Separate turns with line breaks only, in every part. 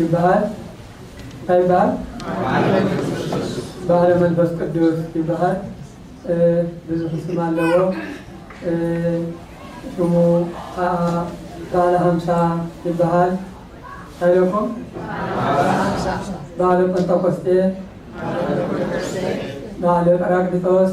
ይበሃል ታይ ይበሃል በዓለ መንፈስ ቅዱስ ይበሃል ብዙሕ ስም ኣለዎ ስሙ ኸዓ በዓለ ሃምሳ ይበሃል ታይ ኢለኩም በዓለ ጰንጠቆስጤ በዓለ ጰራቅሊጦስ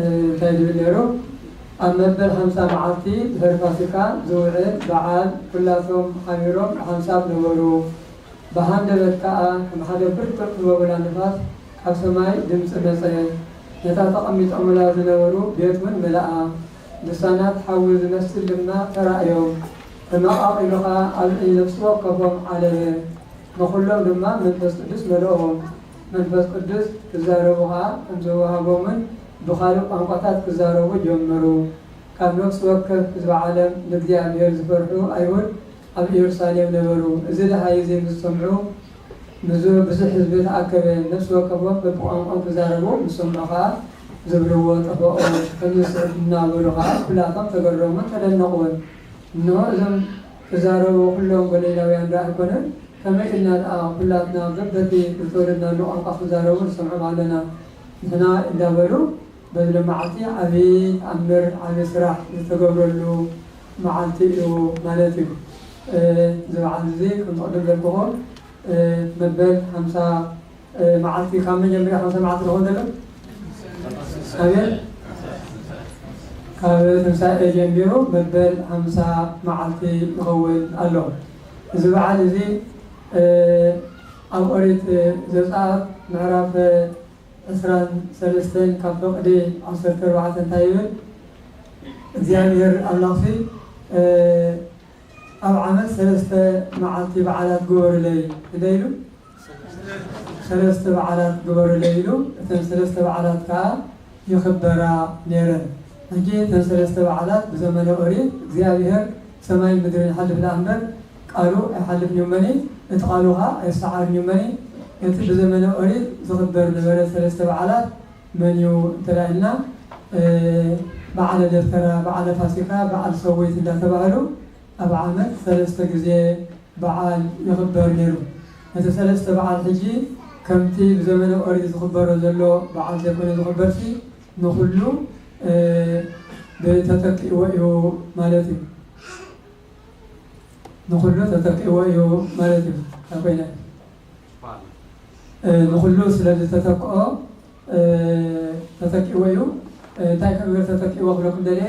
እንታይ ዝብል ነይሩ ኣብ መበል ሓምሳ መዓልቲ ድሕሪ ፋሲካ ዝውዕል በዓል ኩላቶም ሓቢሮም ብሓንሳብ ነበሩ ብሃንደበት ከኣ ከም ሓደ ብርቱዕ ህቦብላ ንፋስ ካብ ሰማይ ድምጺ መጸ ነታ ተቐሚጦምላ ዝነበሩ ቤት ውን መለኣ ልሳናት ሓዊ ዝመስል ድማ ተራእዮም ተመቓቒሉ ከኣ ኣብ ልዕሊ ነፍሲ ወከፎም ዓለበ ንኹሎም ድማ መንፈስ ቅዱስ መለኦም መንፈስ ቅዱስ ክዛረቡ ኸኣ ከም ዘወሃቦምን ብኻልእ ቋንቋታት ክዛረቡ ጀመሩ። ካብ ነፍሲ ወከፍ ህዝቢ ዓለም ንእግዚኣብሄር ዝፈርሑ ኣይሁድ ኣብ እየሩሳሌም ነበሩ። እዚ ደሃይ እዚ ምስ ሰምዑ ብዙ ብዙሕ ህዝቢ ተኣከበ። ነፍሲ ወከፎም በብቋንቋኦም ክዛረቡ ምስ ሰምዑ ኸኣ ዝብልዎ ጠፈኦም። ከምዚ ዝስዕብ እናበሉ ኸኣ ኩላቶም ተገረሙን ተደነቑን። እንሆ እዞም። ክዛረቡ ኩሎም ገሊላውያን ደኣ ኣይኮነን ከመይ ኢልና ደኣ ኩላትና በበቲ ብዝተወለድናሉ ቋንቋ ክዛረቡ ንሰምዖም ኣለና ንሕና እንዳበሉ በዚ መዓልቲ ዓቢ ተኣምር ዓቢ ስራሕ ዝተገብረሉ መዓልቲ እዩ ማለት እዩ እዚ በዓልዚ ከምዚ ቅድም ዘልኩኹም መበል ሓምሳ መዓልቲ ካብ መን ጀሚረ ክሳብ መዓልቲ ዝኸውን ዘሎ? ኣቤት ካብ ትንሳኤ ጀሚሩ መበል ሓምሳ መዓልቲ ይኸውን ኣሎ። እዚ በዓል እዚ ኣብ ኦሪት ዘጽኣት ምዕራፍ ዕስራን ሰለስተን ካብ ፈቅዲ ዓሰርተ ኣርባዕተ እንታይ ይብል? እግዚኣብሄር ኣምላኽሲ ኣብ ዓመት ሰለስተ መዓልቲ በዓላት ግበሩለይ እንተ ኢሉ፣ ሰለስተ በዓላት ግበሩለይ ኢሉ እተን ሰለስተ በዓላት ከኣ ይኽበራ ኔረን። ሕጂ እተን ሰለስተ በዓላት ብዘመነ ኦሪት እግዚኣብሄር ሰማይን ምድርን ይሓልፍ ደኣ እምበር ቃሉ ኣይሓልፍን እዩ እመኒ እቲ ቃሉ ከኣ ኣይሰዓርን እዩ እመኒ እቲ ብዘመነ ኦሪት ዝኽበር ዝነበረ ሰለስተ በዓላት መን እዩ እንተ ኢልና በዓለ ደብተራ በዓለ ፋሲካ በዓል ሰዊት እንዳተባህሉ ኣብ ዓመት ሰለስተ ግዜ በዓል ይኽበር ነይሩ። እቲ ሰለስተ በዓል ሕጂ ከምቲ ብዘመነ ኦሪት ዝኽበሮ ዘሎ በዓል ዘይኮነ ዝኽበርሲ ንኹሉ ብ ተተኪእዎ እዩ ማለት እዩ ንኹሉ ተተኪእዎ እዩ ማለት እዩ እንታይ ኮይነ። ንኹሉ ስለ ዝተተክኦ ተተኪእዎ እዩ። እንታይ ክብር ተተኪእዎ ክብለኩም ደልየ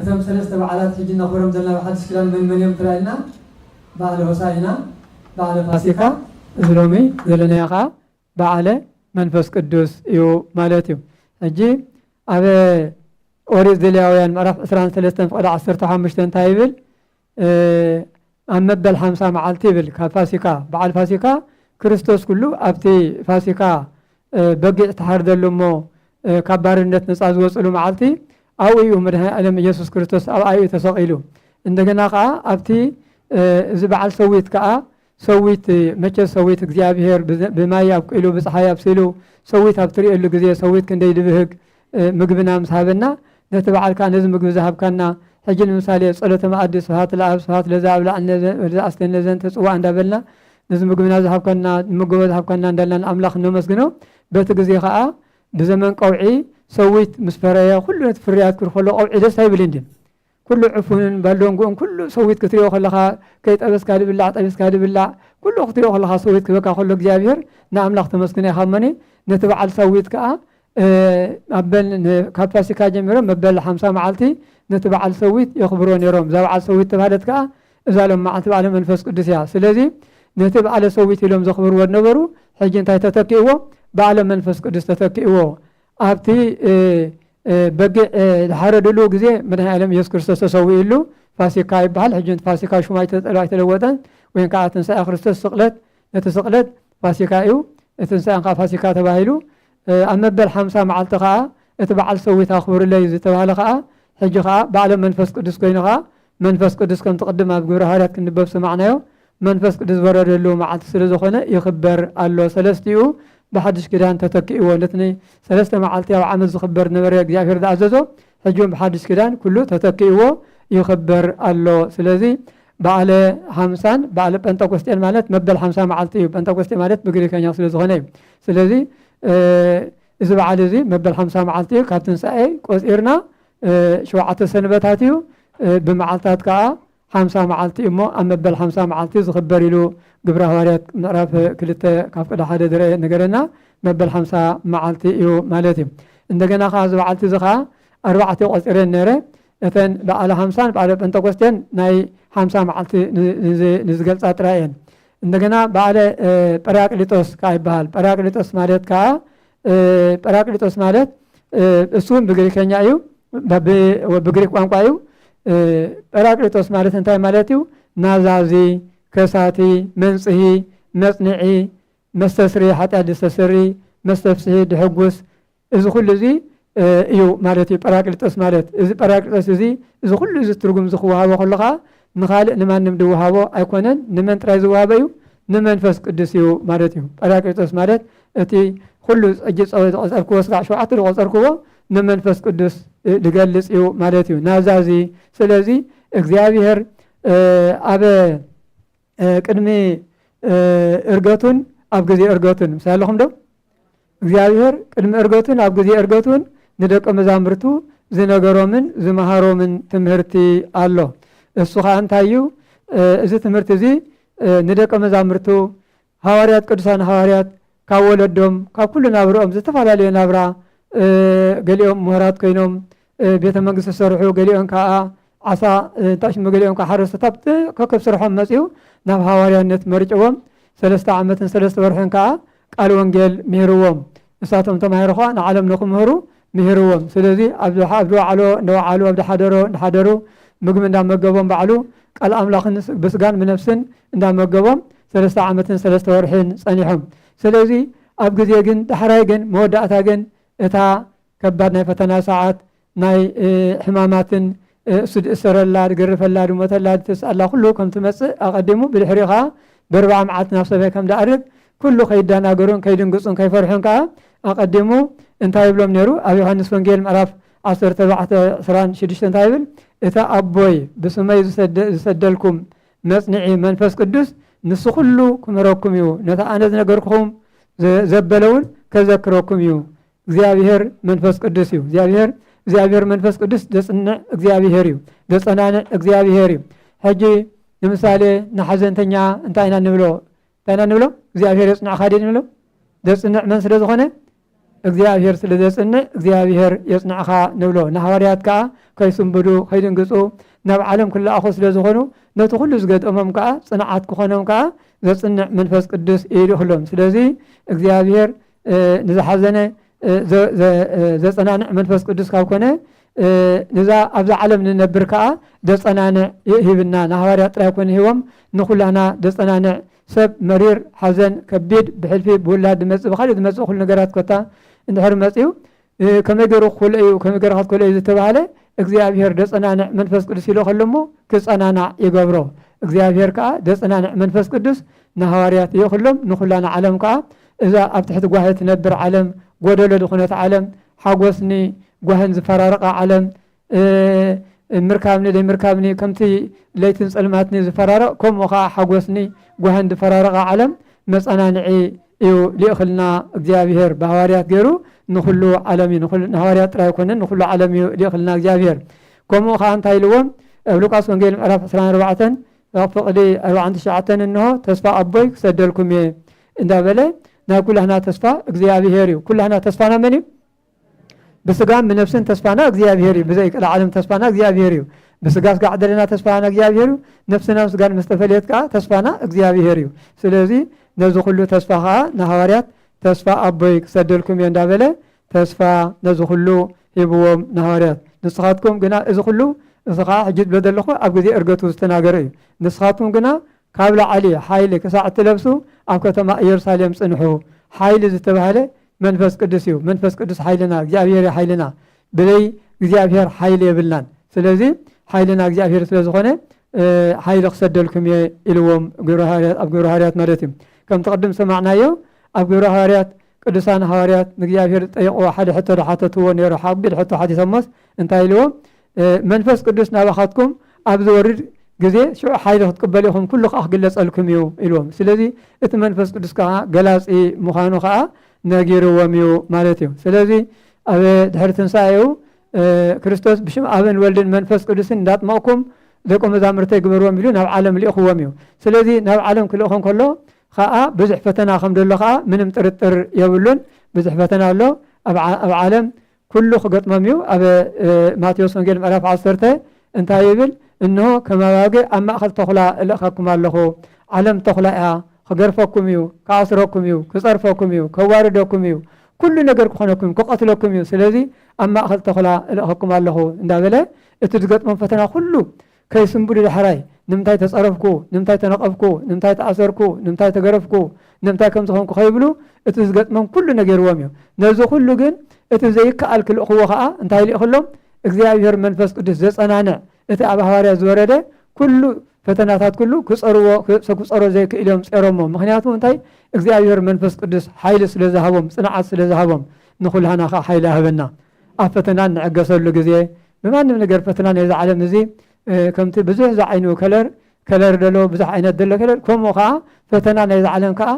እቶም ሰለስተ በዓላት ሕጂ እነኽብሮም ዘለና ብሓድሽ ኪዳን መን መን እዮም እንተላኢልና በዓለ ሆሳኢና፣ በዓለ ፋሲካ፣ እዚ ሎሚ ዘለናዮ ከኣ በዓለ መንፈስ ቅዱስ እዩ ማለት እዩ። ሕጂ ኣብ ኦሪት ዘሌዋውያን ምዕራፍ ዕስራን ሰለስተን ፍቕዲ ዓሰርተ ሓሙሽተ እንታይ ይብል? ኣብ መበል ሓምሳ መዓልቲ ይብል ካብ ፋሲካ በዓል ፋሲካ ክርስቶስ ኩሉ ኣብቲ ፋሲካ በጊዕ ተሓርደሉ እሞ ካብ ባርነት ነፃ ዝወፅሉ መዓልቲ ኣብኡ እዩ መድሃኒ ዓለም ኢየሱስ ክርስቶስ ኣብኣ እዩ ተሰቒሉ እንደገና ከዓ ኣብቲ እዚ በዓል ሰዊት ከዓ ሰዊት መቸስ ሰዊት እግዚኣብሄር ብማይ ኣብቂሉ ብፀሓይ ኣብሲሉ ሰዊት ኣብ ትርእየሉ ግዜ ሰዊት ክንደይ ድብህግ ምግብና ምስ ሃበና ነቲ በዓልካ ነዚ ምግቢ ዝሃብካና ሕጂ ንምሳሌ ጸሎተ መኣዲ ስብሃት ለኣብ ስብሃት ለዛ ኣብላዕነ ኣስተነ ዘንተ ጽዋዕ እንዳበልና ነዚ ምግብና ዝሃብካና ንመገቦ ዝሃብካና እንዳልና ንኣምላኽ እነመስግኖ በቲ ግዜ ከዓ ብዘመን ቀውዒ ሰዊት ምስ ፈረየ ኩሉ ነቲ ፍርያት ክርኸሎ ቀውዒ ደስ ኣይብልን ድዩ ኩሉ ዕፉንን ባሎንጉኡን ኩሉ ሰዊት ክትሪኦ ከለኻ ከይጠበስካ ድብላዕ ጠቢስካ ድብላዕ ኩሉ ክትሪኦ ከለኻ ሰዊት ክበካ ከሎ እግዚኣብሔር ንኣምላኽ ተመስግኖ ኢኻ እሞኒ ነቲ በዓል ሰዊት ከዓ ኣበል ካብ ፋሲካ ጀሚሮም መበል ሓምሳ መዓልቲ ነቲ በዓል ሰዊት የኽብሮ ነይሮም እዛ በዓል ሰዊት ተባህለት ከዓ እዛ ሎም መዓልቲ በዓለ መንፈስ ቅዱስ እያ ስለዚ ነቲ በዓለ ሰዊት ኢሎም ዘኽብርዎ ነበሩ ሕጂ እንታይ ተተኪእዎ በዓለ መንፈስ ቅዱስ ተተኪእዎ ኣብቲ በጊዕ ዝሓረድሉ ግዜ መድኃኔዓለም ኢየሱስ ክርስቶስ ተሰዊኡሉ ፋሲካ ይበሃል። ሕጂ እቲ ፋሲካ ሹም ኣይተለወጠን ወይም ከዓ ትንሣኤ ክርስቶስ ስቕለት ነቲ ስቕለት ፋሲካ እዩ እቲ ትንሣኤን ከዓ ፋሲካ ተባሂሉ ኣብ መበል ሓምሳ መዓልቲ ከዓ እቲ በዓል ሰዊት ኣኽብሩለይ ዝተባህለ ከዓ ሕጂ ከዓ በዓለ መንፈስ ቅዱስ ኮይኑ ከዓ መንፈስ ቅዱስ ከምቲ ቅድም ኣብ ግብረ ሃዋርያት ክንበብ ሰማዕናዮ መንፈስ ቅዱስ ዝወረደሉ መዓልቲ ስለ ዝኾነ ይኽበር ኣሎ። ሰለስቲኡ ብሓድሽ ኪዳን ተተኪእዎ። ነቲ ን ሰለስተ መዓልቲ ኣብ ዓመት ዝኽበር ዝነበረ እግዚኣብሔር ዝኣዘዞ ሕጂ ውን ብሓድሽ ኪዳን ኩሉ ተተኪእዎ ይኽበር ኣሎ። ስለዚ በዓለ ሃምሳን በዓለ ጴንጠቆስጤን ማለት መበል ሓምሳ መዓልቲ እዩ። ጴንጠቆስጤ ማለት ብግሪከኛ ስለ ዝኾነ እዩ። ስለዚ እዚ በዓል እዚ መበል ሓምሳ መዓልቲ እዩ። ካብ ትንሳኤ ቆጺርና ሸውዓተ ሰንበታት እዩ። ብመዓልታት ከዓ ሓምሳ መዓልቲ እሞ ኣብ መበል ሓምሳ መዓልቲ ዝኽበር ኢሉ ግብረ ሃዋርያት ምዕራፍ ክልተ ካብ ቅዳ ሓደ ዝርኣ ነገረና መበል ሓምሳ መዓልቲ እዩ ማለት እዩ እንደገና ከዓ እዚ በዓልቲ እዚ ከዓ ኣርባዕተ ቆፂረን ነረ እተን በዓለ ሓምሳን በዓለ ጴንጠቆስቴን ናይ ሓምሳ መዓልቲ ንዝገልፃ ጥራይ እየን እንደገና በዓለ ጰራቅሊጦስ ከዓ ይበሃል ጰራቅሊጦስ ማለት ከዓ ጰራቅሊጦስ ማለት እሱውን ብግሪከኛ እዩ ብግሪክ ቋንቋ እዩ ጰራቅሊጦስ ማለት እንታይ ማለት እዩ ናዛዚ ከሳቲ መንፅሂ መፅንዒ መስተስሪ ሓጢኣት ዘስተስሪ መስተፍስሒ ድሕጉስ እዚ ኩሉ እዚ እዩ ማለት እዩ ጰራቅሊጦስ ማለት። እዚ ጰራቅሊጦስ እዚ እዚ ኩሉ እዚ ትርጉም እዚ ክወሃቦ ከሎ ከኣ ንኻልእ ንማንም ድወሃቦ ኣይኮነን ንመን ጥራይ ዝወሃበ እዩ ንመንፈስ ቅዱስ እዩ ማለት እዩ። ጰራቅሊጦስ ማለት እቲ ኩሉ ሕጂ ዝቆጸርክዎ ስጋዕ ሸውዓተ ዝቆጸርክዎ ንመንፈስ ቅዱስ ዝገልጽ እዩ ማለት እዩ ናብዛ እዚ ስለዚ እግዚኣብሄር ኣብ ቅድሚ እርገቱን ኣብ ግዜ እርገቱን ምስ ኣለኹም ዶ እግዚኣብሔር ቅድሚ እርገቱን ኣብ ግዜ እርገቱን ንደቀ መዛሙርቱ ዝነገሮምን ዝመሃሮምን ትምህርቲ ኣሎ እሱ ከዓ እንታይ እዩ እዚ ትምህርቲ እዚ ንደቀ መዛሙርቱ ሃዋርያት ቅዱሳን ሃዋርያት ካብ ወለዶም ካብ ኩሉ ናብርኦም ዝተፈላለየ ናብራ ገሊኦም ምሁራት ኮይኖም ቤተ መንግስቲ ዝሰርሑ ገሊኦን ከኣ ዓሳ እንታይ ሽሙ ገሊኦም ከኣ ሓረስቶት ኣብቲ ከከብ ስርሖም መጺኡ ናብ ሃዋርያነት መርጭዎም ሰለስተ ዓመትን ሰለስተ ወርሕን ከኣ ቃል ወንጌል ምሂርዎም ንሳቶም ተማሂሮ ከኣ ንዓለም ንክምህሩ ምሂርዎም ስለዚ ኣብ ዝወዓሎ እንደወዓሉ ኣብ ዝሓደሮ እንዳሓደሩ ምግቢ እንዳመገቦም ባዕሉ ቃል ኣምላኽን ብስጋን ብነፍስን እንዳመገቦም ሰለስተ ዓመትን ሰለስተ ወርሕን ጸኒሖም ስለዚ ኣብ ግዜ ግን ዳሕራይ ግን መወዳእታ ግን እታ ከባድ ናይ ፈተና ሰዓት ናይ ሕማማትን እሱ ድእሰረላ ድገርፈላ ድሞተላ ድትስኣላ ኩሉ ከም ትመጽእ ኣቐዲሙ ብድሕሪኡ ከኣ ብርብዓ መዓልቲ ናብ ሰማይ ከም ድኣርግ ኩሉ ከይደናገሩን ከይድንግጹን ከይፈርሑን ከኣ ኣቐዲሙ እንታይ ይብሎም ነይሩ ኣብ ዮሃንስ ወንጌል ምዕራፍ ዓሰርተ ኣርባዕተ ዕስራን ሽዱሽተ እንታይ ይብል እቲ ኣቦይ ብስመይ ዝሰደ- ዝሰደልኩም መጽንዒ መንፈስ ቅዱስ ንሱ ኩሉ ክምህረኩም እዩ ነቲ ኣነ ዝነገርኩኹም ዘ- ዘበለውን ከዘክረኩም እዩ እግዚኣብሔር መንፈስ ቅዱስ እዩ እግዚኣብሔር እግዚኣብሔር መንፈስ ቅዱስ ዘጽንዕ እግዚኣብሔር እዩ ዘጸናንዕ እግዚኣብሔር እዩ ሕጂ ንምሳሌ ንሓዘንተኛ እንታይ ኢና ንብሎ እንታይ ኢና ንብሎ እግዚኣብሔር የጽንዕካ ደ ንብሎ ዘጽንዕ መን ስለ ዝኾነ እግዚኣብሔር ስለ ዘጽንዕ እግዚኣብሔር የጽንዕካ ንብሎ ንሃዋርያት ከዓ ከይስንብዱ ከይድንግፁ ናብ ዓለም ክለኣኹ ስለ ዝኾኑ ነቲ ኩሉ ዝገጠሞም ከዓ ጽንዓት ክኾኖም ከዓ ዘጽንዕ መንፈስ ቅዱስ ኢሉ ክሎም ስለዚ እግዚኣብሔር ንዝሓዘነ ዘጸናንዕ መንፈስ ቅዱስ ካብ ኮነ ንዛ ኣብዛ ዓለም ንነብር ከዓ ዘጸናንዕ ሂብና ንሃዋርያ ጥራይ ኮነ ሂቦም ንኩላና ዘጸናንዕ ሰብ መሪር ሓዘን ከቢድ ብሕልፊ ብውላድ ዝመፅእ ብካሊእ ዝመፅእ ኩሉ ነገራት ኮታ እንድሕር መፅኡ ከመይ ገይሩ ክኮልኦ እዩ ከመይ ገይርካ ክትኮልኦ እዩ ዝተባህለ እግዚኣብሄር ደጸናንዕ መንፈስ ቅዱስ ይልኸሉ እሞ ክጸናናዕ ይገብሮ እግዚኣብሄር ከኣ ደጸናንዕ መንፈስ ቅዱስ ንሃዋርያት ይልኽሎም ንኩላና ዓለም ከኣ እዛ ኣብ ትሕቲ ጓሂ ትነብር ዓለም ጎደሎ ዝኾነት ዓለም ሓጎስኒ ጓህን ዝፈራረቃ ዓለም ምርካብኒ ዘይምርካብኒ ከምቲ ለይትን ጸልማትኒ ዝፈራረቕ ከምኡ ከኣ ሓጎስኒ ጓህን ዝፈራረቓ ዓለም መጸናንዒ እዩ ሊእኽልና እግዚኣብሄር ብሃዋርያት ገይሩ ንኹሉ ዓለም እዩ ንሃዋርያት ጥራይ ኣይኮነን ንኹሉ ዓለም እዩ ሊእኽልና እግዚኣብሄር ከምኡ ከኣ እንታይ ኢልዎም ኣብ ሉቃስ ወንጌል ምዕራፍ 24 ፍቕዲ 49 እንሆ ተስፋ ኣቦይ ክሰደልኩም እየ እንዳበለ ናይ ኩላህና ተስፋ እግዚኣብሄር እዩ ኩላህና ተስፋና መን እዩ ብስጋን ብነፍስን ተስፋና እግዚኣብሔር እዩ ብዘይ ቀልዓለም ተስፋና እግዚኣብሔር እዩ ብስጋ ስጋ ዕደለና ተስፋና እግዚኣብሔር እዩ ነፍስናን ስጋን ምስ ተፈለየት ከዓ ተስፋና እግዚኣብሔር እዩ ስለዚ ነዚ ኩሉ ተስፋ ከዓ ንሃዋርያት ተስፋ ኣቦይ ክሰደልኩም እየ እንዳበለ ተስፋ ነዚ ኩሉ ሂብዎም ንሃዋርያት ንስኻትኩም ግና እዚ ኩሉ እዚ ከዓ ሕጂ ዝብሎ ዘለኹ ኣብ ግዜ እርገቱ ዝተናገረ እዩ ንስኻትኩም ግና ካብ ላዕሊ ሓይሊ ክሳዕ እትለብሱ ኣብ ከተማ ኢየሩሳሌም ፅንሑ ሓይሊ ዝተባህለ መንፈስ ቅዱስ እዩ መንፈስ ቅዱስ ሓይልና እግዚኣብሔር እዩ ሓይልና ብለይ እግዚኣብሔር ሓይሊ የብልናን ስለዚ ሓይልና እግዚኣብሔር ስለ ዝኾነ ሓይሊ ክሰደልኩም እየ ኢልዎም ኣብ ግብረ ሃዋርያት ማለት እዩ ከምቲ ቅድም ሰማዕናዮ ኣብ ግብረ ሃዋርያት ቅዱሳን ሃዋርያት ንእግዚኣብሔር ዝጠየቕዎ ሓደ ሕቶ ዝሓተትዎ ነይሩ ሓቢድ ሕቶ ሓቲቶሞስ እንታይ ኢልዎም መንፈስ ቅዱስ ናባኻትኩም ኣብ ዝወርድ ግዜ ሽዑ ሓይሊ ክትቅበሉ ኢኹም፣ ኩሉ ከኣ ክግለጸልኩም እዩ ኢልዎም። ስለዚ እቲ መንፈስ ቅዱስ ከኣ ገላጺ ምዃኑ ከኣ ነጊርዎም እዩ ማለት እዩ። ስለዚ ኣብ ድሕሪ ትንሳኤኡ ክርስቶስ ብሽም ኣብን ወልድን መንፈስ ቅዱስን እንዳጥመቕኩም ደቂ መዛሙርተይ ግበርዎም ኢሉ ናብ ዓለም ልኢኽዎም እዩ። ስለዚ ናብ ዓለም ክልእኾም ከሎ ከኣ ብዙሕ ፈተና ከም ደሎ ከኣ ምንም ጥርጥር የብሉን። ብዙሕ ፈተና ኣሎ ኣብ ዓለም ኩሉ ክገጥሞም እዩ ኣብ ማቴዎስ ወንጌል ምዕራፍ ዓሰርተ እንታይ ይብል እንሆ ከም ኣባግዕ ኣብ ማእከል ተኹላ እልእኸኩም ኣለኹ ዓለም ተኹላ እያ ክገርፈኩም እዩ ክኣስረኩም እዩ ክጸርፈኩም እዩ ከዋርደኩም እዩ ኩሉ ነገር ክኾነኩም ክቐትለኩም እዩ ስለዚ ኣብ ማእከል ተኹላ እልእኸኩም ኣለኹ እንዳበለ እቲ ዝገጥሞም ፈተና ኩሉ ከይስንብዱ ዳሕራይ ንምንታይ ተጸረፍኩ፣ ንምንታይ ተነቐፍኩ፣ ንምንታይ ተኣሰርኩ፣ ንምንታይ ተገረፍኩ፣ ንምንታይ ከምዚ ኾንኩ ከይብሉ እቲ ዝገጥሞም ኩሉ ነጊርዎም እዩ። ነዚ ኩሉ ግን እቲ ዘይከኣል ክልእኽዎ ከኣ እንታይ ልኢኽሎም እግዚኣብሔር መንፈስ ቅዱስ ዘጸናንዕ እቲ ኣብ ሃዋርያት ዝወረደ ኩሉ ፈተናታት ኩሉ ክጸርዎ ክጸሮ ዘይክእል እዮም ጸሮሞ ምክንያቱ እንታይ እግዚኣብሔር መንፈስ ቅዱስ ሓይሊ ስለ ዝሃቦም ጽንዓት ስለ ዝሃቦም ንኹልሃና ከኣ ሓይሊ ሃበና። ኣብ ፈተና እንዕገሰሉ ግዜ ብማንም ነገር ፈተና ናይዚ ዓለም እዚ ከምቲ ብዙሕ ዝዓይኑ ከለር ከለር ደሎ ብዙሕ ዓይነት ደሎ ከለር ከምኡ ከዓ ፈተና ናይዚ ዓለም ከዓ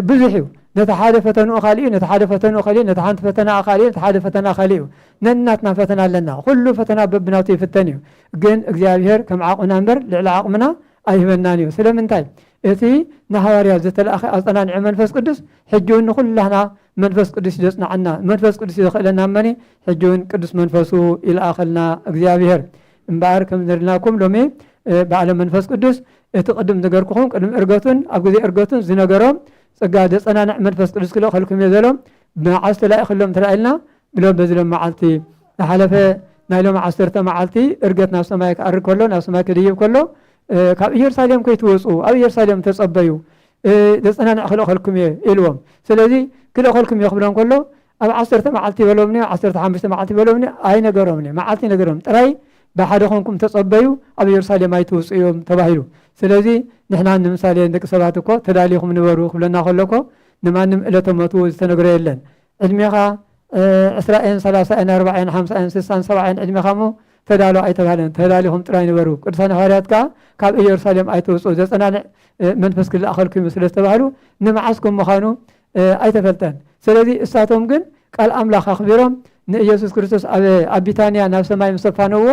ብዙሕ እዩ ነቲ ሓደ ፈተንኡ ካልእ እዩ ነቲ ሓደ ፈተንኡ ካልእ ነቲ ሓንቲ ፈተና ካልእ ነቲ ሓደ ፈተና ካልእ እዩ ነናትና ፈተና ኣለና ኩሉ ፈተና በብናቱ ይፍተን እዩ ግን እግዚኣብሔር ከም ዓቕምና እምበር ልዕሊ ዓቕምና ኣይህበናን እዩ ስለምንታይ እቲ ንሃዋርያ ዝተላእኸ ኣፀናንዒ መንፈስ ቅዱስ ሕጂ እውን ንኩላህና መንፈስ ቅዱስ ዘጽናዓና መንፈስ ቅዱስ ዘኽእለና እመኒ ሕጂ ውን ቅዱስ መንፈሱ ይልኣኸልና እግዚኣብሔር እምበኣር ከም ዝነደልናኩም ሎሚ በዓለ መንፈስ ቅዱስ እቲ ቅድም ዝገርኩኹም ቅድሚ እርገቱን ኣብ ግዜ እርገቱን ዝነገሮም ጸጋ ዘጸናንዕ መንፈስ ቅዱስ ክልእኸልኩም እየ ዘሎም መዓስ ተላኢኸሎም ተላኢልና ብሎ በዚ ሎም መዓልቲ ዝሓለፈ ናይ ሎም ዓሰርተ መዓልቲ እርገት ናብ ሰማይ ክኣርግ ከሎ ናብ ሰማይ ክድይብ ከሎ ካብ ኢየሩሳሌም ከይትወፁ ኣብ ኢየሩሳሌም ተጸበዩ ዘጸናንዕ ክልእኸልኩም እየ ኢልዎም። ስለዚ ክልእኸልኩም እየ ክብሎም ከሎ ኣብ ዓሰርተ መዓልቲ በሎምኒ፣ ኣብ ዓሰርተ ሓሙሽተ መዓልቲ በሎምኒ፣ ኣይነገሮምኒ፣ መዓልቲ ኣይነገሮም፣ ጥራይ ብሓደ ኮንኩም ተጸበዩ ኣብ የሩሳሌም ኣይትውጽኡ እዮም ተባሂሉ። ስለዚ ንሕና ንምሳሌ ንደቂ ሰባት እኮ ተዳሊኹም ንበሩ ክብለና ከሎ እኮ ንማንም እለተ ሞቱ ዝተነግሮ የለን። ዕድሜኻ ዕስራ እየን ሰላሳ እየን ኣርባዓ እየን ሓምሳ እየን ስሳን ሰብዓ እየን ዕድሜኻ እሞ ተዳሎ ኣይተባህለን ተዳሊኹም ጥራይ ንበሩ ቅዱሳን ሃዋርያት ከኣ ካብ ኢየሩሳሌም ኣይትውፅኡ ዘፀናንዕ መንፈስ ክለኣኸልኩም እዩ ስለ ዝተባህሉ ንመዓስኩም ምዃኑ ኣይተፈልጠን ስለዚ እሳቶም ግን ቃል ኣምላኽ ኣኽቢሮም ንኢየሱስ ክርስቶስ ኣብ ቢታንያ ናብ ሰማይ ምስ ኣፋነዎ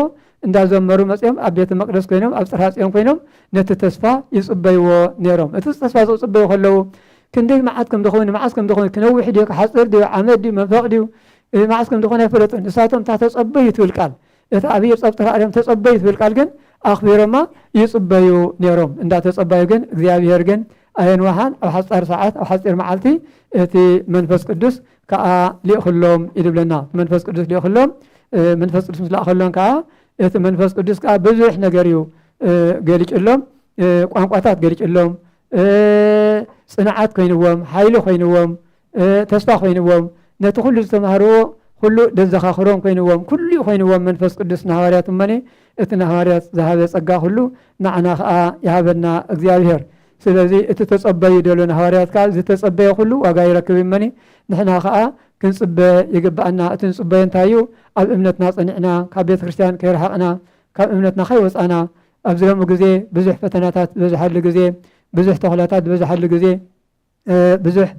እንዳዘመሩ መፅኦም ኣብ ቤተ መቅደስ ኮይኖም ኣብ ፅርሃ ፅዮን ኮይኖም ነቲ ተስፋ ይፅበይዎ ነይሮም እቲ ተስፋ ዝፅበዩ ከለዉ ክንደይ መዓት ከም ዝኾኑ መዓስ ከም ዝኾኑ ክነውሕ ድዩ ክሓጽር ድዩ ዓመት ድዩ መንፈቕ ድዩ መዓስ ከም ዝኾነ ኣይፈለጡን። ንሳቶም እታ ተጸበዩ ትብል ቃል እታ ኣብ ኢድ ጸብጥካ ኣርዮም ተጸበዩ ትብል ቃል ግን ኣኽቢሮማ ይጽበዩ ነይሮም። እንዳ ተጸባዩ ግን እግዚኣብሄር ግን ኣየንወሓን ኣብ ሓጻር ሰዓት ኣብ ሓጺር መዓልቲ እቲ መንፈስ ቅዱስ ከኣ ሊእኽሎም ኢሉ ይብለና። እቲ መንፈስ ቅዱስ ሊእኽሎም መንፈስ ቅዱስ ምስ ለኣኸሎም ከኣ እቲ መንፈስ ቅዱስ ከኣ ብዙሕ ነገር እዩ ገሊጭሎም ቋንቋታት ገሊጭሎም ጽንዓት ኮይንዎም፣ ሓይሊ ኮይንዎም፣ ተስፋ ኮይንዎም፣ ነቲ ኩሉ ዝተማህርዎ ኩሉ ደዘኻኽሮም ኮይንዎም፣ ኩሉ'ዩ ኮይንዎም መንፈስ ቅዱስ ንሃዋርያት እሞኒ እቲ ንሃዋርያት ዝሃበ ጸጋ ኩሉ ንዓና ከኣ ይሃበና እግዚኣብሄር። ስለዚ እቲ ተጸበዩ ደሎ ንሃዋርያት ከኣ ዝተጸበየ ኩሉ ዋጋ ይረክብ እሞኒ ንሕና ከኣ ክንጽበ ይግብኣና። እቲ ንጽበዮ እንታይ'ዩ? ኣብ እምነትና ጸኒዕና ካብ ቤተ ክርስቲያን ከይረሓቕና ካብ እምነትና ከይወጻና ኣብዚ ሎሚ ግዜ ብዙሕ ፈተናታት ዝበዝሓሉ ግዜ፣ ብዙሕ ተኹላታት ዝበዝሓሉ ግዜ፣ ብዙሕ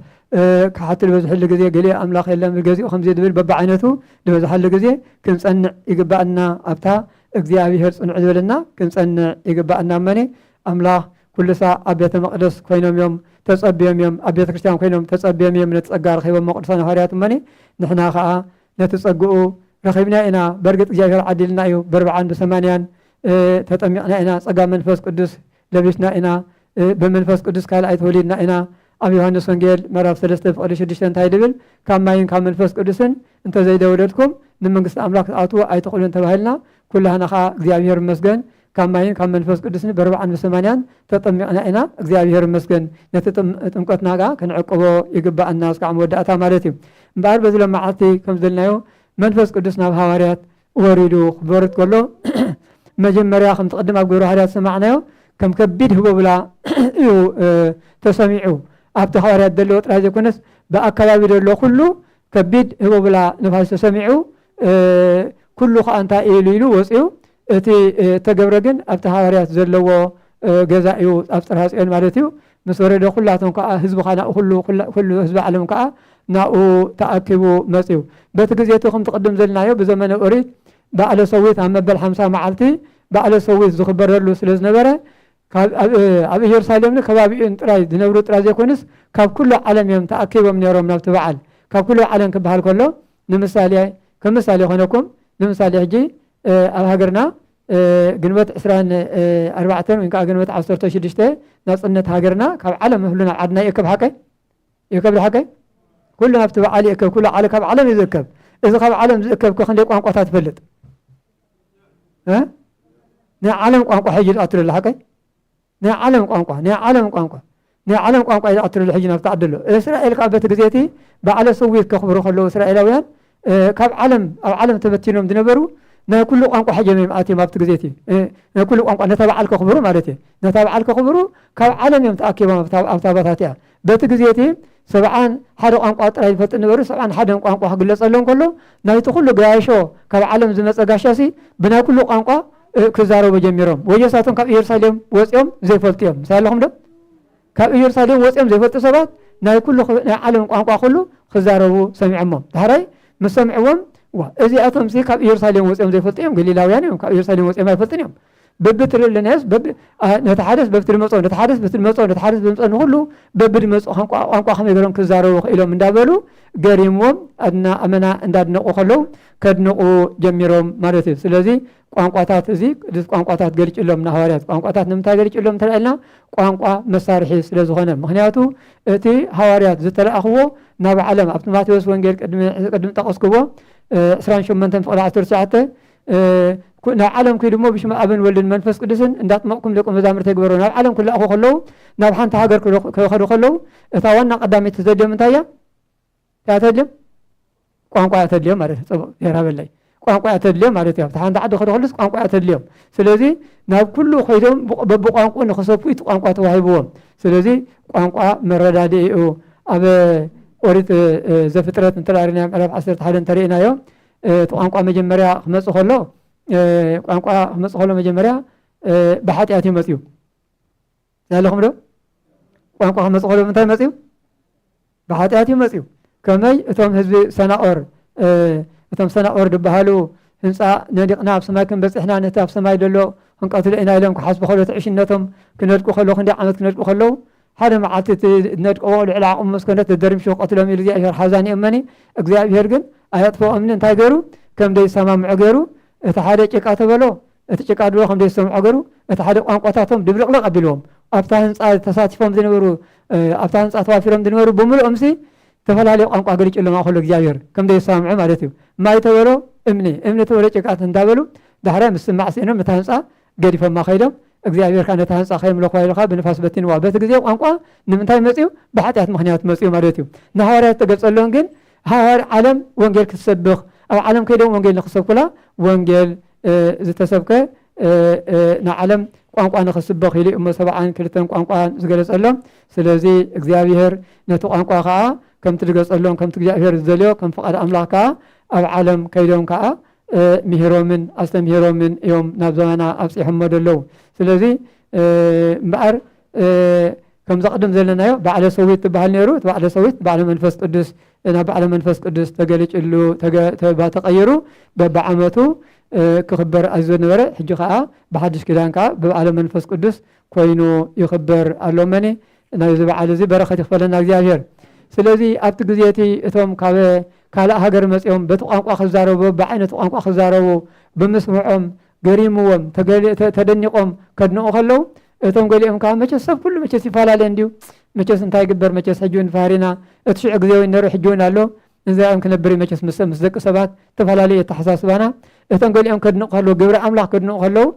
ከሓድቲ ዝበዝሕሉ ግዜ፣ ገሊኡ ኣምላኽ የለን ገዚኡ ከምዚ ዝብል በብዓይነቱ ዝበዝሓሉ ግዜ ክንጸንዕ ይግብኣና ኣብታ
እግዚኣብሄር ጽንዑ ዝበለና ክንጸንዕ ይግብኣና እመኒ ኣምላኽ ኩሉ ሳዕ ኣብ ቤተ መቕደስ ኮይኖም እዮም ተጸብዮም እዮም ኣብ ቤተ ክርስቲያን ኮይኖም ተጸብዮም እዮም ነቲ ጸጋ ረኺቦሞ ቅዱሳን ሃዋርያት እመኒ ንሕና ከኣ ነቲ ጸግኡ ረኺብና ኢና በርግጽ እግዚኣብሔር ዓዲልና እዩ በርብዓን ብሰማንያን ተጠሚቕና ኢና ጸጋ መንፈስ ቅዱስ ለቢስና ኢና ብመንፈስ ቅዱስ ካልኣይ ተወሊድና ኢና ኣብ ዮሃንስ ወንጌል ምዕራፍ ሰለስተ ፍቕዲ ሽዱሽተ እንታይ ድብል ካብ ማይን ካብ መንፈስ ቅዱስን እንተዘይደወለድኩም ንመንግስቲ ኣምላክ ክትኣትዉ ኣይትኽእሉን ተባሂልና ኩላህና ከዓ እግዚኣብሔር መስገን ካብ ማይን ካብ መንፈስ ቅዱስን በርባዕን ብሰማንያን ተጠሚቕና ኢና እግዚኣብሔር ይመስገን ነቲ ጥምቀትና ከኣ ክንዕቅቦ ይግባኣና እስካዕ መወዳእታ ማለት እዩ እምበኣር በዚ ለመዓልቲ ከም ዘልናዮ መንፈስ ቅዱስ ናብ ሃዋርያት ወሪዱ ክበርት ከሎ መጀመርያ ከምቲ ቅድም ኣብ ግብረ ሃዋርያት ሰማዕናዮ ከም ከቢድ ህቦብላ እዩ ተሰሚዑ ኣብቲ ሃዋርያት ዘለዎ ጥራይ ዘይኮነስ ብኣከባቢ ዘሎ ኩሉ ከቢድ ህቦብላ ንፋስ ተሰሚዑ ኩሉ ከዓ እንታይ ኢሉ ኢሉ ወፅኡ እቲ እተገብረ ግን ኣብቲ ሃዋርያት ዘለዎ ገዛ እዩ፣ ኣብ ጽርሃ ጽዮን ማለት እዩ። ምስ ወረደ ዅላቶም ከኣ ህዝቢ ኻና ዅሉ ዅሉ ህዝቢ ዓለም ከኣ ናብኡ ተኣኪቡ መጽኡ። በቲ ግዜ እቲ ከምቲ ቅድም ዘልናዮ ብዘመነ ኦሪት በዓለ ሰዊት ኣብ መበል ሓምሳ መዓልቲ በዓለ ሰዊት ዝኽበረሉ ስለ ዝነበረ ካብ ኣብ ኢየሩሳሌምን ከባቢኡን ጥራይ ዝነብሩ ጥራይ ዘይኮኑስ ካብ ኵሉ ዓለም እዮም ተኣኪቦም ነይሮም ናብቲ በዓል። ካብ ኵሉ ዓለም ክበሃል ከሎ ንምሳሌ ከም ምሳሌ ይኾነኩም ንምሳሌ ሕጂ ኣብ ሃገርና ግንቦት ዕስራን ኣርባዕተን ወይ ከዓ ግንቦት ዓሰርተ ሽዱሽተ ናፅነት ሃገርና ካብ ዓለም ህሉ ናብ ዓድና ይእከብ ሓቀይ ይእከብ ሓቀይ ኩሉ ናብቲ በዓል ይእከብ ኩሉ ዓለ ካብ ዓለም እዩ ዝእከብ እዚ ካብ ዓለም ዝእከብ ክንደይ ቋንቋታት ትፈልጥ ናይ ዓለም ቋንቋ ሕጂ ዝኣትሉ ኣሎ ሓቀይ ናይ ዓለም ቋንቋ ናይ ዓለም ቋንቋ ናይ ዓለም ቋንቋ ኢዩ ዝኣትር ዘሎ ሕጂ ናብቲ ዓዲ ኣሎ እስራኤል ከኣ በቲ ግዜ እቲ በዓለ ሰዊት ከኽብሩ ከለዉ እስራኤላውያን ካብ ዓለም ኣብ ዓለም ተበቲኖም ዝነበሩ ናይ ኩሉ ቋንቋ ሕጀም እዮም ኣትዮም ኣብቲ ግዜ እቲ ናይ ኩሉ ቋንቋ ነታ በዓል ከኽብሩ ማለት እዩ ነታ በዓል ከኽብሩ ካብ ዓለም እዮም ተኣኪቦም ኣብታ ባታት እያ በቲ ግዜ እቲ ሰብዓን ሓደ ቋንቋ ጥራይ ዝፈልጥ ነበሩ፣ ሰብዓን ሓደን ቋንቋ ክግለጸሎም እንከሎ፣ ናይቲ ኩሉ ገያሾ ካብ ዓለም ዝመጸ ጋሻሲ ብናይ ኩሉ ቋንቋ ክዛረቡ ጀሚሮም። ወዮሳቶም ካብ ኢየሩሳሌም ወጺኦም ዘይፈልጡ እዮም። ምሳይ ኣለኹም ዶ? ካብ ኢየሩሳሌም ወጺኦም ዘይፈልጡ ሰባት ናይ ኩሉ ናይ ዓለም ቋንቋ ኩሉ ክዛረቡ ሰሚዖሞም። ዳሕራይ ምስ ሰምዕዎም እዚኣቶምሲ ካብ ኢየሩሳሌም ወጺኦም ዘይፈልጡ እዮም፣ ገሊላውያን እዮም፣ ካብ ኢየሩሳሌም ወጺኦም ኣይፈልጡን እዮም። በብትሪ ለናዮስ ነቲ ሓደስ በብትሪ መፅኦ ነቲ ሓደስ በብትሪ መፅኦ ነቲ ሓደስ በብትሪ መፅኦ ንኩሉ በብድመፅኦ ቋንቋ ከመይ ገይሮም ክዛረቡ ክኢሎም እንዳበሉ ገሪምዎም ኣድና ኣመና እንዳድነቁ ከለው ከድንቁ ጀሚሮም ማለት እዩ ስለዚ ቋንቋታት እዚ ቅዱስ ቋንቋታት ገሊጭሎም ንሃዋርያት ቋንቋታት ንምንታይ ገሊጭሎም እንተልዕልና ቋንቋ መሳርሒ ስለ ዝኾነ ምክንያቱ እቲ ሃዋርያት ዝተለኣኽዎ ናብ ዓለም ኣብቲ ማቴዎስ ወንጌል ቅድሚ ጠቀስክዎ 28 ፍቅዲ 19 ናብ ዓለም ኩዱ እሞ ብሽመ ኣብን ወልድን መንፈስ ቅዱስን እንዳጥመቕኩም ደቂ መዛሙርተ ግበሮ ናብ ዓለም ክለኣኹ ከለዉ ናብ ሓንቲ ሃገር ክኸዱ ከለዉ እታ ዋና ቀዳመይቲ ዘድልዮም እንታይ እያ እያ ተድልዮም ቋንቋ እያ ተድልዮም ማለት እዩ ፅቡቅ ጌራ በላይ ቋንቋ እያ ተድልዮም ማለት እዮም ሓንቲ ዓዲ ክኸዱ ከሉስ ቋንቋ እያ ተድልዮም ስለዚ ናብ ኩሉ ኮይዶም በብቋንቁ ንክሰፉ እቲ ቋንቋ ተዋሂብዎም ስለዚ ቋንቋ መረዳድኢ እዩ ኣብ ኦሪት ዘፍጥረት እንተላሪናዮ ምዕራፍ ዓሰርተ ሓደ እንተርእናዮ እቲ ቋንቋ መጀመርያ ክመጽእ ከሎ ቋንቋ ክመጽእ ከሎ መጀመርያ ብሓጢኣት እዩ መጽዩ ዘለኹም ዶ ቋንቋ ክመጽእ ከሎ ምንታይ መጽዩ ብሓጢኣት እዩ መጽዩ ከመይ እቶም ህዝቢ ሰናኦር እቶም ሰናኦር ዝበሃሉ ህንፃ ነዲቕና ኣብ ሰማይ ክንበፅሕና ነቲ ኣብ ሰማይ ዘሎ ክንቀትሎ ኢና ኢሎም ክሓስቡ ከሎ ትዕሽነቶም ክነድቁ ከለዉ ክንደይ ዓመት ክነድቁ ከለዉ ሓደ መዓልቲ እቲ ነድቀዎ ልዕሊ ዓቕሙ ምስ ኮነ ተደርምሹ ክቐትሎም ኢሉ እግዚኣብሄር ሓዛ ንኤመኒ እግዚኣብሄር ግን ኣየጥፈኦምኒ እንታይ ገሩ ከም ደይሰማምዑ ገሩ እቲ ሓደ ጭቃ ተበሎ እቲ ጭቃ ድሮ ከም ደይሰምዖ ገሩ እቲ ሓደ ቋንቋታቶም ድብልቕልቕ ኣቢልዎም ኣብታ ህንፃ ተሳቲፎም ዝነበሩ ኣብታ ህንፃ ተዋፊሮም ዝነበሩ ብምልኦምሲ ተፈላለዩ ቋንቋ ገሊጭሎም ኣኸሎ እግዚኣብሄር ከም ደይሰማምዑ ማለት እዩ ማይ ተበሎ እምኒ እምኒ ተበሎ ጭቃ እንዳበሉ ዳሕራይ ምስማዕ ስኢኖም እታ ህንፃ ገዲፎማ ከይዶም እግዚኣብሄር ከኣ ነታ ህንጻ ከየምለኹዋ ኢሉ ከኣ ብንፋስ በቲንዋ። በቲ ግዜ ቋንቋ ንምንታይ መጽዩ? ብሓጢኣት ምኽንያት መጽዩ ማለት እዩ። ንሃዋርያት እተገልጸሎም ግን ሃዋር ዓለም ወንጌል ክትሰብኽ ኣብ ዓለም ከይዶም ወንጌል ንኽሰብኩላ ወንጌል ዝተሰብከ ንዓለም ቋንቋ ንኽስበኽ ኢሉ እሞ ሰብዓን ክልተን ቋንቋ ዝገለጸሎም ስለዚ እግዚኣብሄር ነቲ ቋንቋ ከዓ ከምቲ ዝገጸሎም ከምቲ እግዚኣብሄር ዝደልዮ ከም ፍቓድ ኣምላኽ ከዓ ኣብ ዓለም ከይዶም ከዓ ምሂሮምን ኣስተምሂሮምን እዮም ናብ ዘበና ኣብፂሖሞ ዘለዉ ስለዚ እምበኣር ከምዛ ቅድም ዘለናዮ ባዕለ ሰዊት ትበሃል ነይሩ እቲ ባዕለ ሰዊት ባዕለ መንፈስ ቅዱስ ናብ ባዕለ መንፈስ ቅዱስ ተገሊጭሉ ተቐይሩ በብዓመቱ ክኽበር ኣዝዮ ነበረ ሕጂ ከዓ ብሓድሽ ኪዳን ከዓ ብባዕለ መንፈስ ቅዱስ ኮይኑ ይኽበር ኣሎ መኒ ናይዚ በዓል እዚ በረኸት ይኽፈለና እግዚኣብሔር። ስለዚ ኣብቲ ግዜ እቲ እቶም ካብ ካልእ ሃገር መጺኦም በቲ ቋንቋ ክዛረቡ በብዓይነቱ ቋንቋ ክዛረቡ ብምስምዖም ገሪምዎም ተደኒቖም ከድንቑ ከለዉ እቶም ገሊኦም ከዓ መቸስ ሰብ ኩሉ መቸስ ይፈላለ እንድዩ መቸስ እንታይ ይግበር መቸስ ሕጂ እውን ፋህሪና እቲ ሽዑ ግዜ እውን ነይሩ ሕጂ እውን ኣሎ እንዚኣም ክነብር እዩ መቸስ ምስ ምስ ደቂ ሰባት ተፈላለዩ ኣተሓሳስባና እቶም ገሊኦም ከድንቑ ከለዉ ግብሪ ኣምላኽ ከድንቑ ከለዉ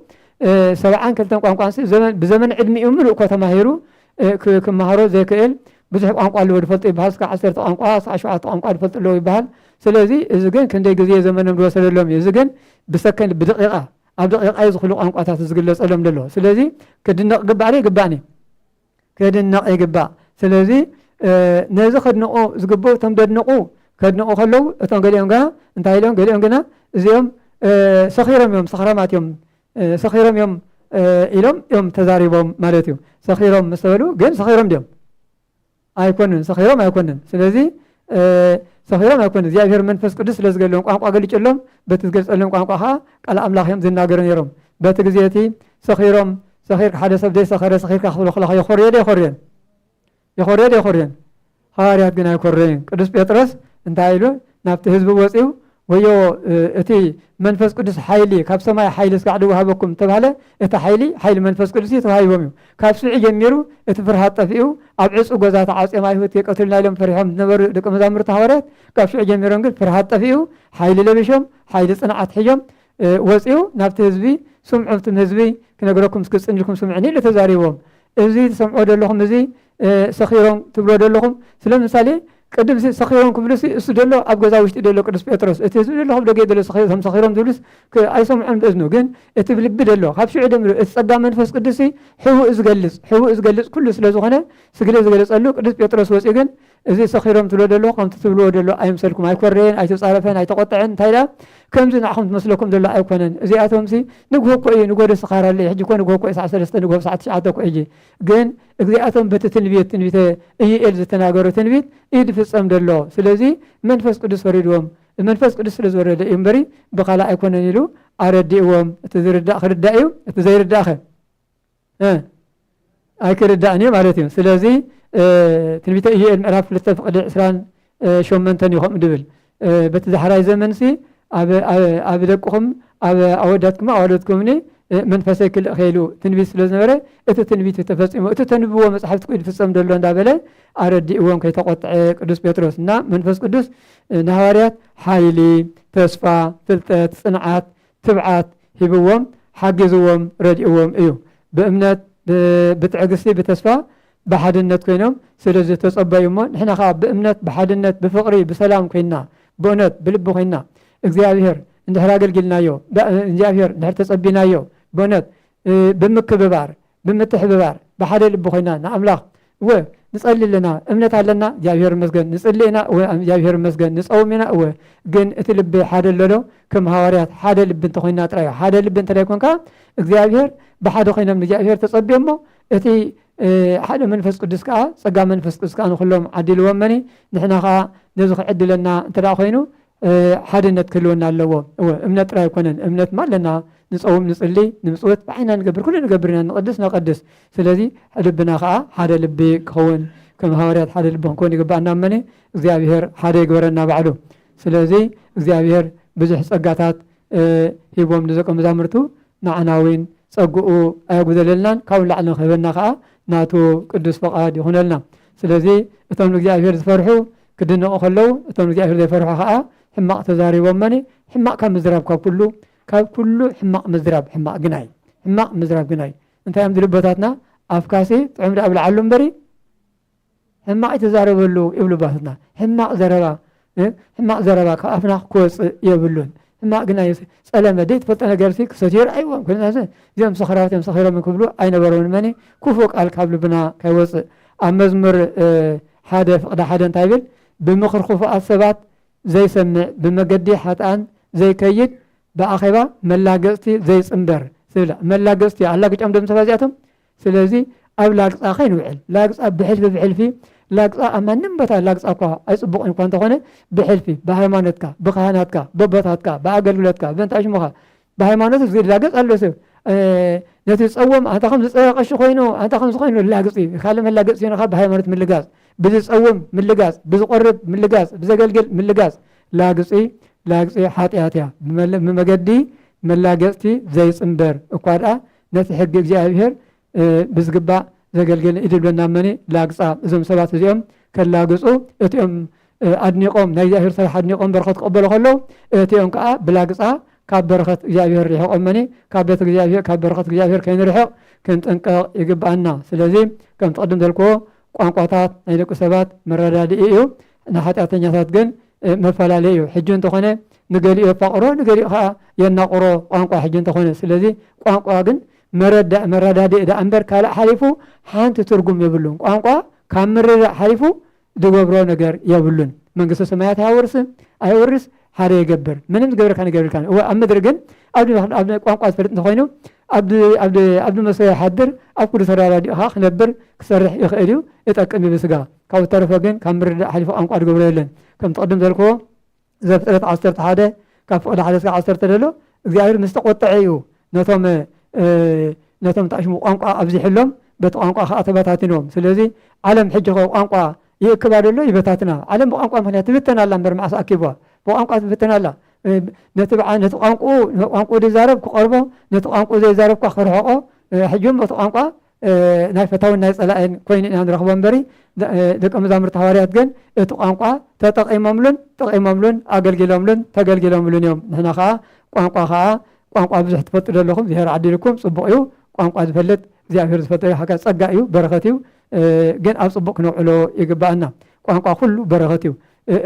ሰብዓን ክልተን ቋንቋንሲ ዘመን ብዘመን ዕድሚኡ ምሉእ እኮ ተማሂሩ ክመሃሮ ዘይክእል ብዙሕ ቋንቋ ኣለዎ ዝፈልጡ ይበሃል እስካ ዓሰርተ ቋንቋ እስካ ሸውዓተ ቋንቋ ዝፈልጡ ኣለዎ ይበሃል ስለዚ እዚ ግን ክንደይ ግዜ ዘመኖም ዝወሰደሎም እዩ እዚ ግን ብሰከንድ ብደቂቃ ኣብ ደቂቃ እዩ ዝኽሉ ቋንቋታት ዝግለፀሎም ዘሎ ስለዚ ክድነቕ ግባእ ይግባእኒ ከድነቕ ይግባእ ስለዚ ነዚ ከድንቑ ዝግብኡ እቶም ደድንቑ ከድንቑ ከለዉ እቶም ገሊኦም ግና እንታይ ኢሎም ገሊኦም ግና እዚኦም ሰኺሮም እዮም ሰኽራማት እዮም ሰኺሮም እዮም ኢሎም እዮም ተዛሪቦም ማለት እዩ ሰኺሮም ምስ በሉ ግን ሰኺሮም ድዮም ኣይኮንን ሰኺሮም ኣይኮንን ስለዚ ሰኺሮም ኣይኮነ እግዚኣብሔር መንፈስ ቅዱስ ስለ ዝገለዎም ቋንቋ ገሊጨሎም በቲ ዝገልፀሎም ቋንቋ ከዓ ቃል ኣምላኽ እዮም ዝናገሩ ነይሮም በቲ ግዜ እቲ ሰኺሮም ሰኺርካ ሓደ ሰብ ዘይሰኸረ ሰኺርካ ክብሎ ከለካ የኮርዮ ዶ የኮርዮን የኮርዮ ዶ የኮርዮን ሃዋርያት ግን ኣይኮረዩን ቅዱስ ጴጥሮስ እንታይ ኢሉ ናብቲ ህዝቢ ወፂኡ ወዮ እቲ መንፈስ ቅዱስ ሓይሊ ካብ ሰማይ ሓይሊ ስጋዕ ድወሃበኩም እተባህለ እቲ ሓይሊ ሓይሊ መንፈስ ቅዱስ እዩ ተዋሂቦም እዩ ካብ ሽዑ ጀሚሩ እቲ ፍርሃት ጠፊኡ ኣብ ዕፁ ጎዛ ተዓፅዮም ኣይሁት የቀትሉና ኢሎም ፈሪሖም ዝነበሩ ደቂ መዛሙርቲ ሃዋርያት ካብ ሽዑ ጀሚሮም ግን ፍርሃት ጠፊኡ ሓይሊ ለቢሾም ሓይሊ ፅንዓት ሒዞም ወፂኡ ናብቲ ህዝቢ ስምዑ እቲ ህዝቢ ክነግረኩም እስክፅን ኢልኩም ስምዑኒ ኢሉ ተዛሪቦም እዚ ትሰምዖ ዘለኹም እዚ ሰኺሮም ትብሎ ደለኹም ስለምሳሌ ቅድም ሲ ሰኺሮም ክብሉ ሲ እሱ ደሎ ኣብ ገዛ ውሽጢ ደሎ ቅዱስ ጴጥሮስ እቲ ህዝቢ ደሎ ካብ ደገ ደሎ ሰኺሮም ሰኺሮም ዝብሉስ ኣይሰምዖም እዝኑ ግን እቲ ብልቢ ደሎ ካብ ሽዑ ደምሩ እቲ ጸጋ መንፈስ ቅዱስ ሲ ሕቡእ ዝገልጽ ሕቡእ ዝገልጽ ኩሉ ስለ ዝኾነ ስግለ ዝገለጸሉ ቅዱስ ጴጥሮስ ወጺኡ ግን እዚ ሰኺሮም ትብሎ ደሎ ከምቲ ትብልዎ ደሎ ኣይምሰልኩም ኣይኮረየን ኣይተጻረፈን ኣይተቆጠዐን እንታይ ደኣ ከምዚ ንዓኹም ትመስለኩም ደሎ ኣይኮነን እዚኣቶም ሲ ንግሆ እኮ እዩ ንጎደ ስኻር ኣሎ ሕጂ እኮ ንግሆ እኮ እዩ ሰዓት ሰለስተ ንግሆ ሰዓት ትሽዓተ እኮ እዩ ግን እዚኣቶም በቲ ትንቢት ትንቢተ እዩኤል ዝተናገሮ ትንቢት እዩ ዝፍጸም ዘሎ ስለዚ መንፈስ ቅዱስ ወሪድዎም መንፈስ ቅዱስ ስለ ዝወረደ እዩ እምበሪ ብካልእ ኣይኮነን ኢሉ ኣረዲእዎም እቲ ዝርዳእ ክርዳእ እዩ እቲ ዘይርዳእኸ ኣይክርዳእን እዩ ማለት እዩ ስለዚ ትንቢተ እዩኤል ምዕራፍ ክልተ ፍቅዲ ዕስራን ሾመንተን እዩ ከምኡ ድብል በቲ ዳሕራይ ዘመንሲ ኣብ ደቅኹም ኣብ ኣወዳትኩም ኣዋልድኩምኒ መንፈሰይ ክልእ ከይሉ ትንቢት ስለ ዝነበረ እቲ ትንቢት እዩ ተፈፂሙ እቲ ተንብዎ መፅሓፍቲ ኩ ዝፍፀም ደሎ እንዳበለ ኣረዲእዎም ከይተቆጥዐ ቅዱስ ጴጥሮስ እና መንፈስ ቅዱስ ንሃዋርያት ሓይሊ ተስፋ ፍልጠት ፅንዓት ትብዓት ሂብዎም ሓጊዝዎም ረድእዎም እዩ ብእምነት ብትዕግስቲ ብተስፋ ብሓድነት ኮይኖም ስለ ዝተጸበዩ እሞ ንሕና ከኣ ብእምነት ብሓድነት ብፍቕሪ ብሰላም ኮይንና ብእውነት ብልቢ ኮይንና እግዚኣብሄር እንድሕር ኣገልጊልናዮ እግዚኣብሄር እንድሕር ተጸቢናዮ ብእውነት ብምክብባር ብምትሕብባር ብሓደ ልቢ ኮይና ንኣምላኽ እወ ንጸሊ ኣለና እምነት ኣለና እግዚኣብሄር መስገን ንጽሊ ኢና እወ እግዚኣብሄር መስገን ንጸውም ኢና እወ ግን እቲ ልቢ ሓደ ኣሎዶ ከም ሃዋርያት ሓደ ልቢ እንተኮይና ጥራዮ ሓደ ልቢ እንተላይ ኮንካ እግዚኣብሄር ብሓደ ኮይኖም ንእግዚኣብሄር ተጸቢዮሞ እቲ ሓደ መንፈስ ቅዱስ ከኣ ጸጋ መንፈስ ቅዱስ ከኣ ንኹሎም ዓዲልዎም መኒ ንሕና ከኣ ነዚ ክዕድለና እንተ ኮይኑ ሓድነት ክህልወና ኣለዎ እወ እምነት ጥራይ ኣይኮነን እምነት ማ ኣለና ንፀውም ንፅሊ ንምፅወት ብዓይና ንገብር ኩሉ ንገብር ኢና ንቕድስ ነቐድስ ስለዚ ልብና ከዓ ሓደ ልቢ ክኸውን ከም ሃዋርያት ሓደ ልቢ ክንከውን ይግባኣና መኒ እግዚኣብሄር ሓደ ይግበረና ባዕሉ ስለዚ እግዚኣብሄር ብዙሕ ፀጋታት ሂቦም ንደቀ መዛሙርቱ ንዓና እውን ጸግኡ ኣየጉደለልናን ካብኡ ንላዕሊ ንክህበና ከኣ ናቱ ቅዱስ ፍቃድ ይኹነልና። ስለዚ እቶም ንእግዚኣብሄር ዝፈርሑ ክድነቁ ከለዉ እቶም ንእግዚኣብሄር ዘይፈርሑ ከኣ ሕማቅ ተዛሪቦሞኒ ሕማቅ ካብ ምዝራብ ካብ ኩሉ ካብ ኩሉ ሕማቅ ምዝራብ ሕማቅ ግናይ ሕማቅ ምዝራብ ግናይ እንታይ እዮም ዝብሉ ኣቦታትና ኣፍካሲ ጥዑም ደኣ ብልዓሉ እምበሪ ሕማቅ ኣይትዛረበሉ ይብሉ ባትና ሕማቅ ዘረባ ሕማቅ ዘረባ ካብ ኣፍና ክወፅእ የብሉን ሕማቅ ግና ፀለመ ዘይትፈልጦ ነገርሲ ክሰትዮ ርኣይዎም ኩናሰ እዚኦም ሰኽራዎት እዮም ሰኺሮም ክብሉ ኣይነበረውን መኒ ክፉእ ቃል ካብ ልብና ከይወፅእ ኣብ መዝሙር ሓደ ፍቅዲ ሓደ እንታይ ይብል ብምኽሪ ክፉኣት ሰባት ዘይሰምዕ ብመገዲ ሓጥኣን ዘይከይድ ብኣኼባ መላገፅቲ ዘይፅንበር ዝብል መላገፅቲ ኣላግጮም ዶም ሰባት እዚኣቶም ስለዚ ኣብ ላግጻ ከይንውዕል፣ ላግጻ ብሕልፊ ብሕልፊ ላግጻ ኣብ ማንም ቦታ ላግጻ እኳ ኣይጽቡቕን እኳ እንተኾነ ብሕልፊ ብሃይማኖትካ፣ ብካህናትካ፣ በቦታትካ፣ ብኣገልግሎትካ፣ በእንታ ሽሙኻ ብሃይማኖቱ ዝላገጽ ኣሎ ሰብ ነቲ ዝጸወም ኣንታ ከም ዝጸረ ቀሺ ኮይኑ ኣንታ ከም ዝኮይኑ ላግጺ ካልእ መላገጽ ሲኖኻ ብሃይማኖት ምልጋጽ ብዝጸውም ምልጋጽ ብዝቆርብ ምልጋጽ ብዘገልግል ምልጋጽ ላግጺ ላግጺ ሓጢኣት እያ ብመገዲ መላገጽቲ ዘይጽምበር እኳ ደኣ ነቲ ሕጊ እግዚኣብሔር ብዝግባእ ዘገልገለ ኢድ ብለና መኒ ላግፃ እዞም ሰባት እዚኦም ከላግፁ እቲኦም ኣድኒቆም ናይ እግዚኣብሔር ስራሕ ኣድኒቆም በረኸት ክቐበሉ ከለዉ እቲኦም ከዓ ብላግፃ ካብ በረኸት እግዚኣብሔር ርሕቆም መኒ ካብ ቤት እግዚኣብሔር ካብ በረኸት እግዚኣብሔር ከይንርሕቕ ክንጥንቀቕ ይግብኣና ስለዚ ከምቲ ቅድም ዘልክዎ ቋንቋታት ናይ ደቂ ሰባት መረዳድኢ እዩ ንሓጢኣተኛታት ግን መፈላለዪ እዩ። ሕጂ እንተኾነ ንገሊኡ የፋቕሮ ንገሊኡ ከኣ የናቑሮ ቋንቋ ሕጂ እንተኾነ። ስለዚ ቋንቋ ግን መረዳኢ መረዳድኢ ደኣ እምበር ካልእ ሓሊፉ ሓንቲ ትርጉም የብሉን። ቋንቋ ካብ ምርዳእ ሓሊፉ ዝገብሮ ነገር የብሉን። መንግስተ ሰማያት ኣያወርስ ኣየወርስ ሓደ ይገብር ምንም ዝገብረካ ነገር የብልካን። እወ ኣብ ምድሪ ግን ኣብ ቋንቋ ዝፈልጥ እንተኾይኑ ኣብ ዝመስሎ ይሓድር ኣብ ኩሉ ተረዳዲኡ ከዓ ክነብር ክሰርሕ ይኽእል እዩ ይጠቅም እዩ ብስጋ ካብኡ ዝተረፈ ግን ካብ ምርድዳእ ሓሊፉ ቋንቋ ዝገብሮ የለን። ከምቲ ቅድም ዘልክዎ ዘፍጥረት ዓሰርተ ሓደ ካብ ፍቕዲ ሓደ እስከ ዓሰርተ ዘሎ እግዚኣብሔር ምስ ተቆጠዐ እዩ ነቶም ነቶም ታሽሙ ቋንቋ ኣብዚሕሎም በቲ ቋንቋ ከዓ ተበታቲኖም ስለዚ ዓለም ሕጂ ከ ቋንቋ ይእክባ ደሎ ይበታትና ዓለም ብቋንቋ ምክንያት ትብተን ኣላ እምበር መዓስ ኣኪብዋ ብቋንቋ ትብተን ኣላ ነቲ ነቲ ቋንቋኡ ቋንቋኡ ዝዛረብ ክቐርቦ ነቲ ቋንቋኡ ዘይዛረብኳ ክርሕቆ ሕጂ እውን በቲ ቋንቋ ናይ ፈታውን ናይ ጸላእን ኮይኑ ኢና ንረኽቦ እምበሪ ደቀ መዛሙርቲ ሃዋርያት ግን እቲ ቋንቋ ተጠቒሞምሉን ጠቒሞምሉን ኣገልጊሎምሉን ተገልጊሎምሉን እዮም ንሕና ከዓ ቋንቋ ከዓ ቋንቋ ብዙሕ ትፈልጡ ዘለኹም እግዚኣብሔር ዓዲልኩም ጽቡቕ እዩ ቋንቋ ዝፈልጥ እግዚኣብሔር ዝፈጠዮ ሓጋ ጸጋ እዩ በረኸት እዩ ግን ኣብ ጽቡቕ ክነውዕሎ ይግባኣና ቋንቋ ኩሉ በረኸት እዩ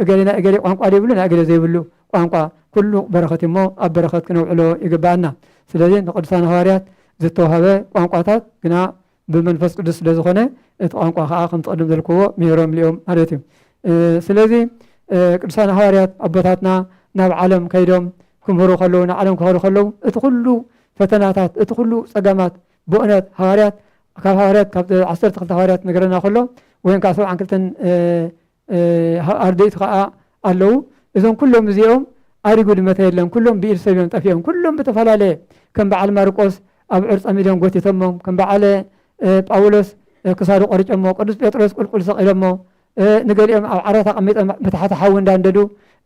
እገሌ ናይ እገሌ ቋንቋ ዘይብሉ ናይ እገሌ ዘይብሉ ቋንቋ ኩሉ በረኸት እዩሞ ኣብ በረኸት ክነውዕሎ ይግበኣና ስለዚ ንቅዱሳን ሃዋርያት ዝተዋህበ ቋንቋታት ግና ብመንፈስ ቅዱስ ስለ ዝኾነ እቲ ቋንቋ ከዓ ከምቲ ቅድም ዘልክዎ ምሂሮም ልኦም ማለት እዩ ስለዚ ቅዱሳን ሃዋርያት ኣቦታትና ናብ ዓለም ከይዶም ክምህሩ ከለዉ ንዓለም ክኸዱ ከለዉ እቲ ኩሉ ፈተናታት እቲ ኩሉ ፀገማት ብእነት ሃዋርያት ካብ ሃዋርያት ካብ ዓሰርተ ክልተ ሃዋርያት ነገረና ከሎ ወይም ከዓ ሰብዓን ክልተን ኣርድእቱ ከኣ ኣለዉ እዞም ኩሎም እዚኦም ኣሪጉ ድመተ የለን ኩሎም ብኢድ ሰብ እዮም ጠፊኦም ኩሎም ብተፈላለየ ከም በዓል ማርቆስ ኣብ ዕርፀ ሚድዮም ጎቲቶሞም ከም በዓለ ጳውሎስ ክሳዱ ቆርጨሞ ቅዱስ ጴጥሮስ ቁልቁል ሰቂሎሞ ንገሊኦም ኣብ ዓራት ኣቐሚጦም ብታሕቲ ሓዊ እንዳንደዱ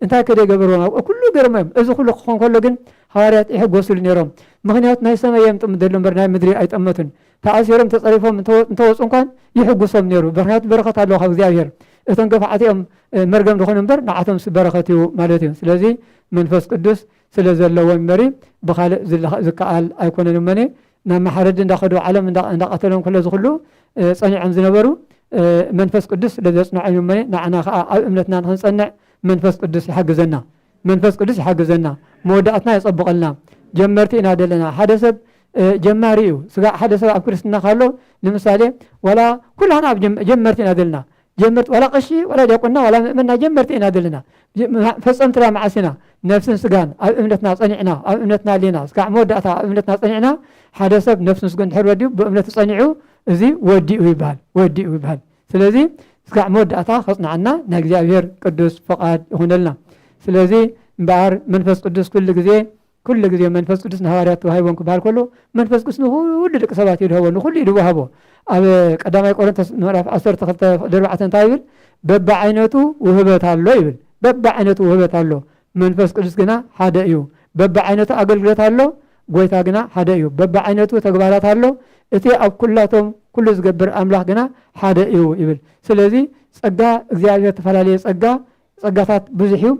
እንታይ ከደ ገበርዎም ኣብ ኩሉ ገርሞ እዮም እዚ ኩሉ ክኾን ከሎ ግን ሃዋርያት ይሕጎስሉ ነይሮም ምክንያቱ ናይ ሰማይ የምጥሙ ደሎ እምበር ናይ ምድሪ ኣይጠመቱን ተኣሲሮም ተጸሪፎም እንተወጹ እኳ ይሕጉሶም ነይሩ በክንያቱ በረከት ኣለዎ ካብ እግዚኣብሔር እቶም ገፋዓት እዮም መርገም ዝኾኑ እምበር ንዓቶም በረከት እዩ ማለት እዩ ስለዚ መንፈስ ቅዱስ ስለ ዘለዎ እምበሪ ብካልእ ዝከኣል ኣይኮነን እመኒ ናብ መሓረዲ እንዳኸዱ ዓለም እንዳቐተሎም ከሎ ዝኽሉ ጸኒዖም ዝነበሩ መንፈስ ቅዱስ ስለዘጽንዖም እመኒ ንዓና ከዓ ኣብ እምነትና ንክንጸንዕ መንፈስ ቅዱስ ይሓግዘና መንፈስ ቅዱስ ይሓግዘና መወዳእትና የጸብቐልና ጀመርቲ ኢና ዘለና ሓደ ሰብ ጀማሪ እዩ ስጋዕ ሓደ ሰብ ኣብ ክርስትና ካሎ ንምሳሌ ዋላ ኩላና ኣብ ጀመርቲ ኢና ዘለና ጀመርቲ ዋላ ቀሺ ዋላ ዲያቆና ዋላ ምእመና ጀመርቲ ኢና ዘለና ፈጸምቲ ዳ መዓስ ኢና ነፍስን ስጋን ኣብ እምነትና ጸኒዕና ኣብ እምነትና ኣለና ስጋዕ መወዳእታ ኣብ እምነትና ጸኒዕና ሓደ ሰብ ነፍስን ስጉ እንድሕር ወዲኡ ብእምነቱ ጸኒዑ እዚ ወዲኡ ይበሃል ወዲኡ ይበሃል ስለዚ እስካዕ መወዳእታ ከጽንዓና ናይ እግዚኣብሔር ቅዱስ ፍቃድ ይኹነልና። ስለዚ እምበኣር መንፈስ ቅዱስ ኩሉ ግዜ ኩሉ ግዜ መንፈስ ቅዱስ ንሃዋርያት ተዋሂቦም ክበሃል ከሎ መንፈስ ቅዱስ ንኹሉ ደቂ ሰባት እዩ ድሃቦ ንኹሉ እዩ ድዋሃቦ ኣብ ቀዳማይ ቆሮንቶስ ምዕራፍ 12 ፍቅዲ 4 እንታይ ይብል በብዓይነቱ ውህበት ኣሎ ይብል በብዓይነቱ ውህበት ኣሎ መንፈስ ቅዱስ ግና ሓደ እዩ በብዓይነቱ ኣገልግሎት ኣሎ ጎይታ ግና ሓደ እዩ። በብዓይነቱ ተግባራት ኣሎ፣ እቲ ኣብ ኩላቶም ኩሉ ዝገብር ኣምላኽ ግና ሓደ እዩ ይብል። ስለዚ ጸጋ እግዚኣብሔር ተፈላለየ ጸጋ ጸጋታት ብዙሕ እዩ።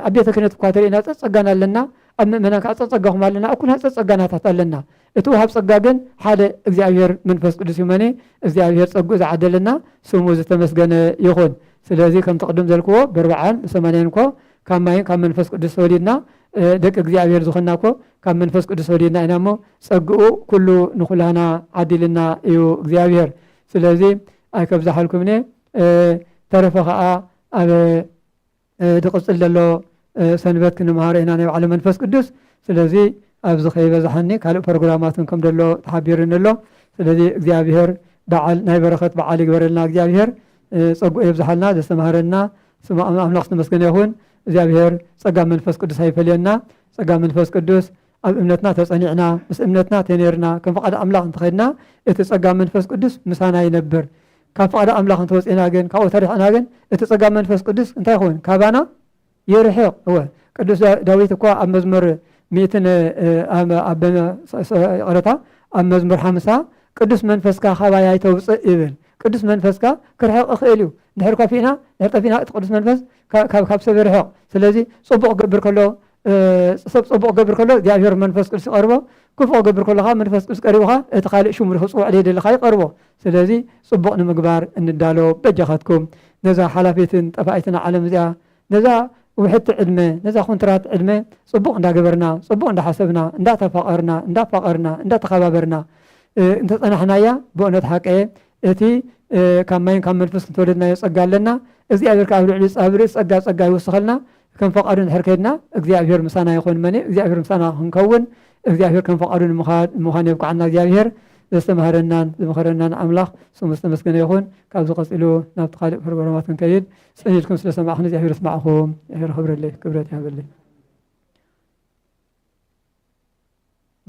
ኣብ ቤተ ክህነት እኳ ተርእና ጸጸጋና ኣለና፣ ኣብ ምእመናን ከዓ ጸጸጋኹም ኣለና፣ ኣብ ኩልና ጸጸጋናታት ኣለና። እቲ ውሃብ ጸጋ ግን ሓደ እግዚኣብሔር መንፈስ ቅዱስ እዩ። መኔ እግዚኣብሔር ጸግኡ ዝዓደለና ስሙ ዝተመስገነ ይኹን። ስለዚ ከምቲ ቅድም ዘልክዎ ብርብዓን ብሰማንያን እኮ ካብ ማይን ካብ መንፈስ ቅዱስ ተወሊድና ደቂ እግዚኣብሔር ዝኾንና እኮ ካብ መንፈስ ቅዱስ ወሊድና ኢና እሞ ጸግኡ ኩሉ ንኩላህና ዓዲልና እዩ እግዚኣብሔር ስለዚ ኣይከብዛሓልኩምኔ ተረፈ ከዓ ኣብ ድቕፅል ዘሎ ሰንበት ክንምሃሮ ኢና ናይ ባዕለ መንፈስ ቅዱስ ስለዚ ኣብዚ ከይበዛሓኒ ካልእ ፕሮግራማትን ከም ደሎ ተሓቢርኒ ኣሎ ስለዚ እግዚኣብሔር በዓል ናይ በረኸት በዓል ይግበረልና እግዚኣብሔር ፀጉኡ የብዝሓልና ዘስተማሃረና ስሙ ኣምላኽ ዝተመስገነ ይኹን እግዚኣብሔር ጸጋ መንፈስ ቅዱስ ኣይፈለየና ጸጋ መንፈስ ቅዱስ ኣብ እምነትና ተጸኒዕና ምስ እምነትና ተነርና ከም ፍቓድ ኣምላኽ እንተኸድና እቲ ጸጋ መንፈስ ቅዱስ ምሳና ይነብር ካብ ፍቓድ ኣምላኽ እንተወፂእና ግን ካብኡ ተሪሕና ግን እቲ ፀጋ መንፈስ ቅዱስ እንታይ ይኸውን ካባና ይርሕቕ እወ ቅዱስ ዳዊት እኳ ኣብ መዝሙር ሚእትን ይቕረታ ኣብ መዝሙር ሓምሳ ቅዱስ መንፈስካ ካባይ ኣይተውፅእ ይብል ቅዱስ መንፈስካ ክርሕቕ ይኽእል እዩ ድሕር ኮፊእና ድሕር ጠፊእና እቲ ቅዱስ መንፈስ ካብ ሰብ ይርሕቕ ስለዚ ፅቡቕ ክገብር ከሎ ሰብ ፅቡቕ ክገብር ከሎ እግዚኣብሔር መንፈስ ቅዱስ ይቐርቦ ክፉእ ክገብር ከሎ ከዓ መንፈስ ቅዱስ ቀሪቡኻ እቲ ካልእ ሽሙ ክፅውዕ ደይደለኻ ይቐርቦ ስለዚ ፅቡቕ ንምግባር እንዳሎ በጃኻትኩም ነዛ ሓላፊትን ጠፋኢትን ዓለም እዚኣ ነዛ ውሕቲ ዕድመ ነዛ ኩንትራት ዕድመ ፅቡቕ እንዳገበርና ፅቡቕ እንዳሓሰብና እንዳተፋቐርና እንዳፋቐርና እንዳተኸባበርና እንተፀናሕናያ ብእውነት ሓቀየ እቲ ካብ ማይን ካብ መንፈስ ዝተወለድናዮ ጸጋ ኣለና። እግዚኣብሔር ከኣ ኣብ ልዕሊ ጻብሪ ጸጋ ጸጋ ይውስኸልና። ከም ፈቃዱ እንድሕር ከድና እግዚኣብሔር ምሳና ይኹን መኔ እግዚኣብሔር ምሳና ክንከውን እግዚኣብሔር ከም ፈቃዱ ንምዃን የብቅዓና እግዚኣብሔር ዘስተምሃረናን ዝመኸረናን ኣምላኽ ስሙ ዝተመስገነ ይኹን። ካብዚ ቀጺሉ ናብቲ ካልእ ፕሮግራማት ክንከይድ ጸኒድኩም ስለ ሰማዕኹም እግዚኣብሔር ስማዕኹም እግዚኣብሔር ክብረለይ ክብረት ይሃበለይ።